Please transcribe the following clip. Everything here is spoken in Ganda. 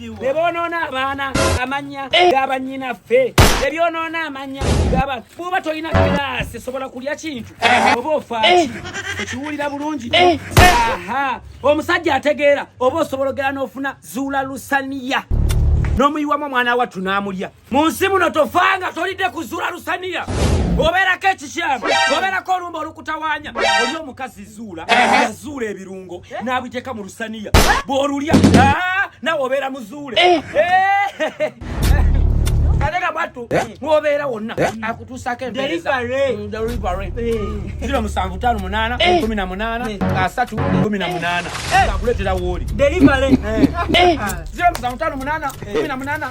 ne boonoona abaana amannya eh. g'abannyinaffe ne byonoona amannya gaba bw'oba tolina kiraasi sobola kulya kintu eh. oba ofaaki eh. ekiwulira bulungi aha omusajja ategeera oba osobola ogera n'ofuna zuula lusaniya n'omuyiwamu omwana wattu n'amulya mu nsi muno tofanga tolidde kuzuula lusaniya obeerako ekikyamu obeerako olumba olukutawaanya oli omukazi zuula yazuula ebirungo n'abijeka mu lusaniya bw'olulya ah, nawe obeera muzuule eh. Eh. ate nga bwattu eh? mwobeera wonna eh? akutuusako empeerezaziro mm, musanvu taano munaana eh. kumi na munaana asatu kumi na munaana akuleetera wooli ziro musanvu taano munaana kumi na munaana